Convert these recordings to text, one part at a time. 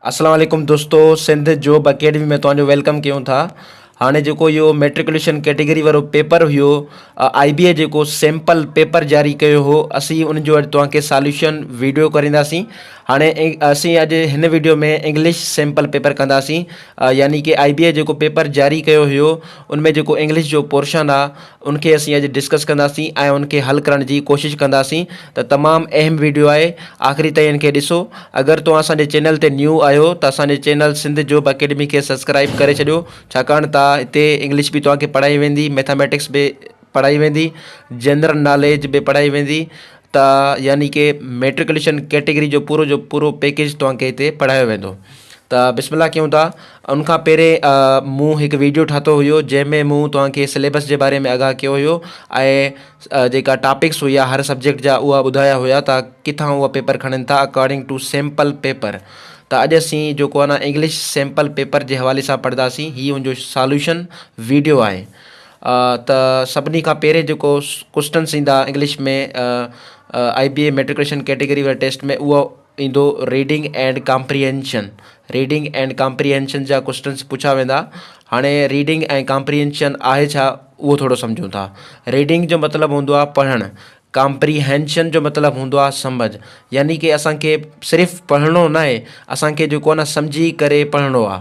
اسلام عليڪم دوستو سنڌ جوب اڪيڊمي ۾ توهان جو ويلڪم ڪيون ٿا هاڻي جيڪو اهو ميٽرڪوليشن ڪيٽيگري وارو پيپر هيو آئي بي اي جيڪو سيمپل پيپر جاري ڪيو هو اسين ان جو اڄ توهان کي ساليوشن ويڊيو ڪرينداسين هاڻي اسين اڄ هن ويڊيو ۾ انگلش سيمپل پيپر ڪنداسين يعني ڪي آئي بي اي جيڪو پيپر جاري ڪيو هيو ان ۾ جيڪو انگلش جو پورشن آهي ان کي اسين اڄ ڊسڪس ڪنداسين ۽ ان کي حل ڪرڻ جي ڪوشش ڪنداسين ته تمام اهم ويڊيو آهي آخري تائين ان کي ڏسو اگر توهان اسان جي چينل تي نيو آهيو ته اسان جي چينل سنڌ جوب اڪيڊمي کي سبسڪرائيب ڪري ڇڏيو ڇاڪاڻ ته هتي انگلش به توهان کي پڙهائي ويندي ميٿاميٽڪس به پڙهائي ويندي جنرل ناليج به پڙهائي ويندي ته يعني ڪي ميٽرڪليشن ڪيٽيگري جو پورو جو پورو پيڪيج توهان کي هتي پڙهايو ويندو ته بسم الله ڪيون ٿا ان کان پهرين مون هڪ ويڊيو ٺاهتو هيو جنهن ۾ مون توهان کي سليبس جي باري ۾ آگاهه ڪيو هيو ۽ جيڪا ٽاپڪس هيا هر سبجيڪٽ جا اها ٻڌايا هيا ته ڪٿان اهي پيپر کڻن ٿا اڪارڊنگ ٽو سيمپل پيپر ته اڄ اسين جيڪو آهي نه انگلش سيمپل پيپر جي حوالي سان پڙهنداسين هي ان جو سالوشن ويڊيو آهي ته سڀني کان پهرين جيڪو ڪوسٽنس ايندا English ۾ I B A matriculation category واري ٽيسٽ ۾ اهو ايندو reading and comprehension reading and comprehension جا ڪوسٽنس پڇا ويندا هاڻي ريڊنگ ۽ ڪامپريهينشن آهي ڇا اهو ٿورو سمجهون ٿا ريڊنگ جو مطلب هوندو آهي پڙهڻ ڪامپريهينشن جو مطلب هوندو آهي سمجهه يعني ڪي اسان کي صرف پڙهڻو ناهي اسان کي جيڪو آهي نه سمجهي ڪري پڙهڻو آهي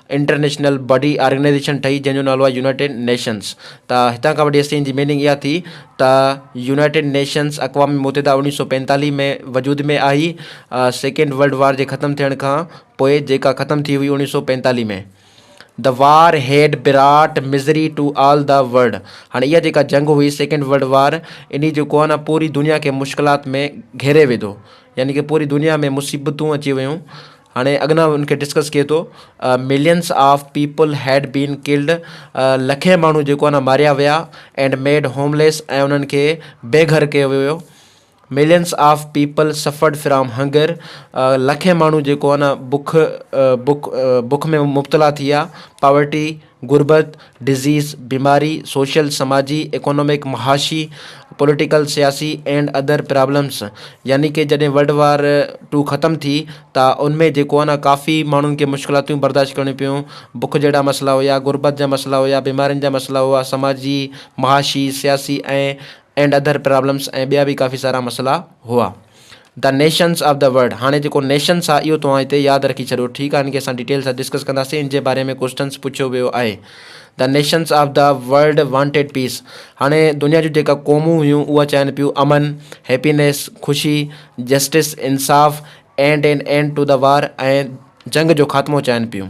انٽرنيشنل باڊي آرگنائيزيشن ٺهي جنهن جو نالو آهي يونائيٽيڊ نيشنس ته هتان کان وٺي ايس سين جي ميننگ اها ٿي ته يونائيٽيڊ نيشنس اقوام متحده اوڻيهه سو پنجتاليهه ۾ وجود ۾ آئي سيڪنڊ ورلڊ وار جي ختم ٿيڻ کان پوء جيڪا ختم ٿي هئي اوڻيهه سو پنجتاليهه ۾ the war had brought misery to all the world هاڻي اها جيڪا جنگ هئي سيڪنڊ ورلڊ وار اني جيڪو آهي نا پوري دنيا کي مشڪلات ۾ گهيري وڌو يعني ڪي پوري دنيا ۾ مصيبتون اچي ويون هاڻي اڳنا ان کي ڊسڪس ڪي ٿو millions of people had been killed لکين ماڻهو جيڪو آهن ماريا ويا اينڊ ميڊ هومليس ۽ انهن کي بي گهر ڪيو ويو millions of people suffered from hunger لکين ماڻهو جيڪو آهن بک بک بک ۾ مبتلا ٿي ويا پاورٽي غربت، Disease، بيماري، سوشل، سماجي، ايڪانومڪ، معاشي، پوليٽيڪل، سياسي، اينڊ ادر پرابلمس يعني ڪي جڏهن ورلڊ وار ٽو ختم ٿي ته ان ۾ جيڪو آهي نه ڪافي ماڻهن کي مشڪلاتون برداشت ڪرڻيون پيون، بک جهڙا مسئلا هيا، غربت جا مسئلا هيا، بيمارين جا مسئلا هئا، سماجي، معاشي، سياسي ۽ اينڊ ادر پرابلمس ۽ ٻيا به ڪافي سارا مسئلا هئا. The nations of the world هاڻي جيڪو نيشنس آهي اهو توهان هتي ياد رکي ڇڏيو ٺيڪ آهي ان کي اسان ڊيٽيل سان ڊسڪس ڪنداسين ان جي باري ۾ ڪوسٽنس پڇيو ويو آهي The nations of the world wanted peace هاڻي دنيا جون جيڪا قومون هيون اها چاهين پيون امن هيپينيس خوشي جسٽس انصاف and an end to the war ۽ جنگ جو خاتمو چاهين پيون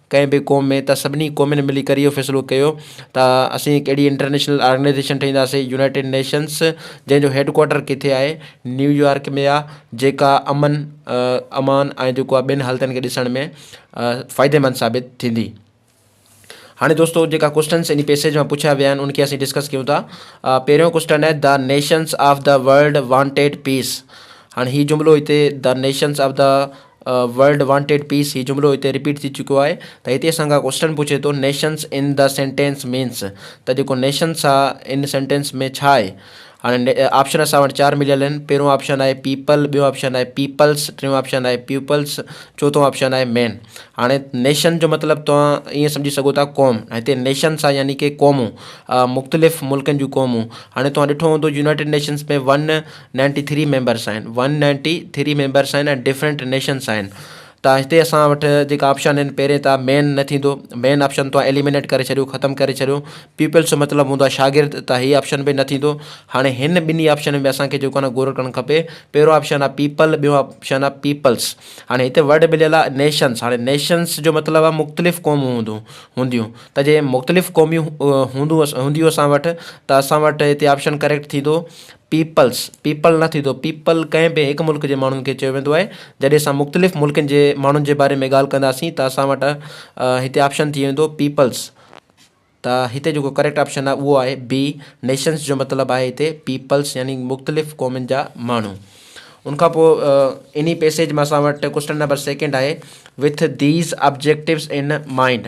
ڪنهن به قوم ۾ ته سڀني قومين ملي ڪري اهو فيصلو ڪيو ته اسين هڪ اهڙي انٽرنيشنل آرگنائيزيشن ٺاهينداسين يونائيٽيڊ نيشنس جنهن جو هيڊ ڪوارٽر ڪٿي آهي نيويارڪ ۾ آهي جيڪا امن امان ۽ جيڪو آهي ٻين حالتن کي ڏسڻ ۾ فائديمند ثابت ٿيندي هاڻي دوستو جيڪا ڪوشچنس ان پيسيج مان پڇيا ويا آهن ان کي اسين ڊسڪس ڪيون ٿا پهريون ڪوشچن آهي the nations of the world wanted peace هاڻي هي جملو هتي the nations of the world wanted peace هي جملو هتي رپيٽ ٿي چڪو آهي ته هتي اسان کان ڪوسٽن پڇي ٿو nations in the sentence means ته جيڪو نيشنس آهي ان سينٽينس ۾ ڇا آهي هاڻي آپشن اسان وٽ چار مليل آهن پهريون آپشن آهي پيپل ٻيو آپشن آهي پيپلس ٽيون آپشن آهي پيوپلس چوٿون آپشن آهي مين هاڻي نيشن جو مطلب توهان ائين سمجهي سگهو ٿا قوم هتي نيشنس آهي يعني ڪي قومون مختلف ملڪن جون قومون هاڻي توهان ڏٺو هوندو United Nations ۾ one ninety three members آهن ون نائنٽي ٿري ميمبرس آهن ۽ ڊفرنٽ نيشنس آهن ته هتي اسان وٽ جيڪا آپشن آهن پهرين ته مين نه ٿيندو مين آپشن تو ايليمنيٽ ڪري ڇڏيو ختم ڪري ڇڏيو پيپلس جو مطلب هوندو آهي شاگرد ته هي آپشن به نه ٿيندو هاڻي هن ٻنهي آپشن ۾ اسانکي جيڪو نه غور ڪرڻ کپي پهريون آپشن آهي پيپل ٻيون آپشن آهي پيپلس هاڻي هتي ورڊ مليل آهي نيشنس هاڻي نيشنس جو مطلب آهي مختلف قومون هوندون هونديون ته جي مختلف قوميون هوندون هونديون اسان وٽ ته اسان وٽ هتي آپشن ڪريڪٽ ٿيندو پيپلز، People، نه ٿيندو. پيپل ڪنهن به هڪ ملڪ جي ماڻهن کي چيو ويندو آهي. جڏهن اسان مختلف ملڪن جي ماڻهن جي باري ۾ ڳالهه ڪنداسين ته اسان وٽ هتي آپشن ٿي ويندو پيپلز. ته هتي جيڪو ڪريڪٽ آپشن آهي اهو آهي بي. نيشنز جو مطلب آهي هتي پيپلز يعني مختلف قومن جا ماڻهو. ان کان پوء انهي پيسيج مان اسان وٽ ڪوسٽن نمبر سيڪنڊ آهي with these objectives in mind.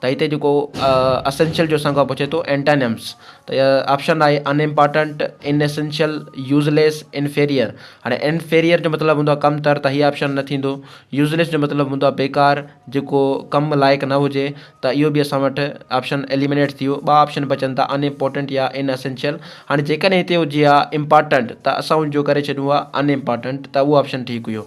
ته هتي جيڪو اسينشل جو اسان کان پڇي ٿو اينٽانمس ته آپشن آهي unimportant inessential useless inferior هاڻي انفيريئر جو مطلب هوندو ڪم تر ته هي آپشن نه ٿيندو يوز ليس جو مطلب هوندو بيڪار جيڪو ڪم لائق نه هجي ته اهو به اسان وٽ آپشن ايليمنيٽ ٿي ويو ٻه آپشن بچن ٿا ان امپارٽنٽ يا ان اسينشل هاڻي جيڪڏهن هتي هجي ها امپارٽنٽ ته اسان ان جو ڪري ڇڏيون ها ان امپارٽنٽ ته اهو آپشن ٺيڪ هيو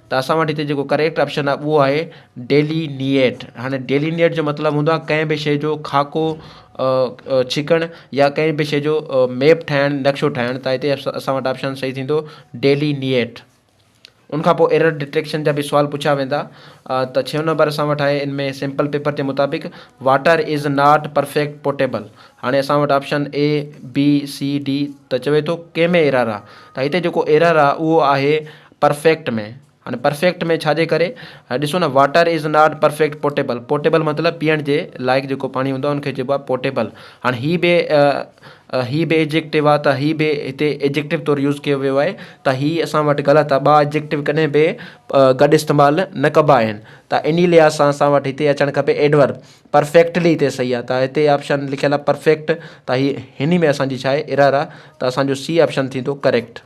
ته اسان وٽ هتي جيڪو ڪريڪٽ آپشن آهي اهو آهي ڊيلي نيٽ هاڻي ڊيلي نيٽ جو مطلب هوندو آهي ڪنهن به شي جو خاڪو ڇڪڻ يا ڪنهن به شي جو ميپ ٺاهڻ نقشو ٺاهڻ ته هتي اسان وٽ آپشن صحيح ٿيندو ڊيلي نيٽ ان کان پوء ايرر ڊٽيڪشن جا به سوال پڇيا ويندا ته ڇهيون نمبر اسان وٽ آهي ان ۾ سيمپل پيپر جي مطابق water is not perfect potable هاڻي اسان وٽ option A B C D ته چوي ٿو ڪنهن ۾ ايرر آهي ته هتي جيڪو ايرر آهي اهو آهي پرفيڪٽ ۾ هاڻي پرفيڪٽ ۾ ڇا جي ڪري ڏسو نه water is not perfect potable potable مطلب پيئڻ جي لائق جيڪو پاڻي هوندو آهي ان کي چئبو آهي پوٽيبل هاڻي هي به هي به ايجڪٽو آهي ته هي به هتي ايجڪٽو طور يوز ڪيو ويو آهي ته هي اسان وٽ غلط آهي ٻا ايجڪٽو ڪڏهن به گڏ استعمال نه ڪبا آهن ته انهي لحاظ سان اسان وٽ هتي اچڻ کپي ايڊور پرفيڪٽلي هتي صحيح آهي ته هتي آپشن لکيل آهي پرفيڪٽ ته هي هني ۾ اسان جي ڇا آهي ايرر آهي ته اسان جو سي آپشن ٿيندو ڪريڪٽ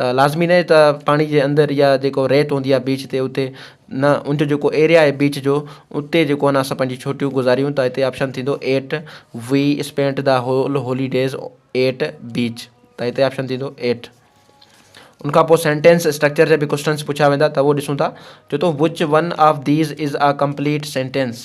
ته لازمي ناهي ته پاڻي جي اندر يا جيڪو ريت هوندي آهي بيچ تي اتي نه ان جو جيڪو ايريا آهي بيچ جو اتي جيڪو نه اسان پنهنجي ڇوٽيون گذاريون ته هتي آپشن ٿيندو at we spent the whole holidays at beach ته هتي آپشن ٿيندو ايٽ ان کان پوء سينٽينس اسٽرڪچر جا به ڪوشچنس پڇيا ويندا ته اهو ڏسون ٿا چو ٿو which one of these is a complete sentence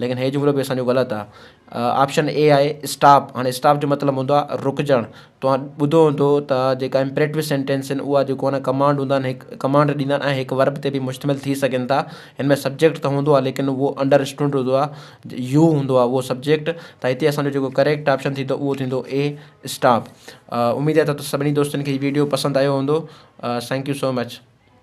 ليڪن هي جملو به اسان جو غلط آ. آپشن اي آهي اسٽاپ. هاڻي اسٽاپ جو مطلب هوندو آهي رڪجڻ. توهان ٻڌو هوندو ته جيڪا امپريٽو سينٽينس آهن اها جيڪو آهن ڪمانڊ هوندا آهن هڪ ڪمانڊ ڏيندا آهن ۽ هڪ ورب تي به مشتمل ٿي سگهن ٿا. هن ۾ سبجيڪٽ ته هوندو آهي ليڪن اهو انڊر اسٽوڊ هوندو آهي. يو هوندو آهي اهو سبجيڪٽ. ته هتي اسان جو جيڪو ڪريڪٽ آپشن ٿيندو اهو ٿيندو اي اسٽاپ. اميد آهي ته سڀني دوستن کي هي ويڊيو پسند آيو هوندو. Thank you so much.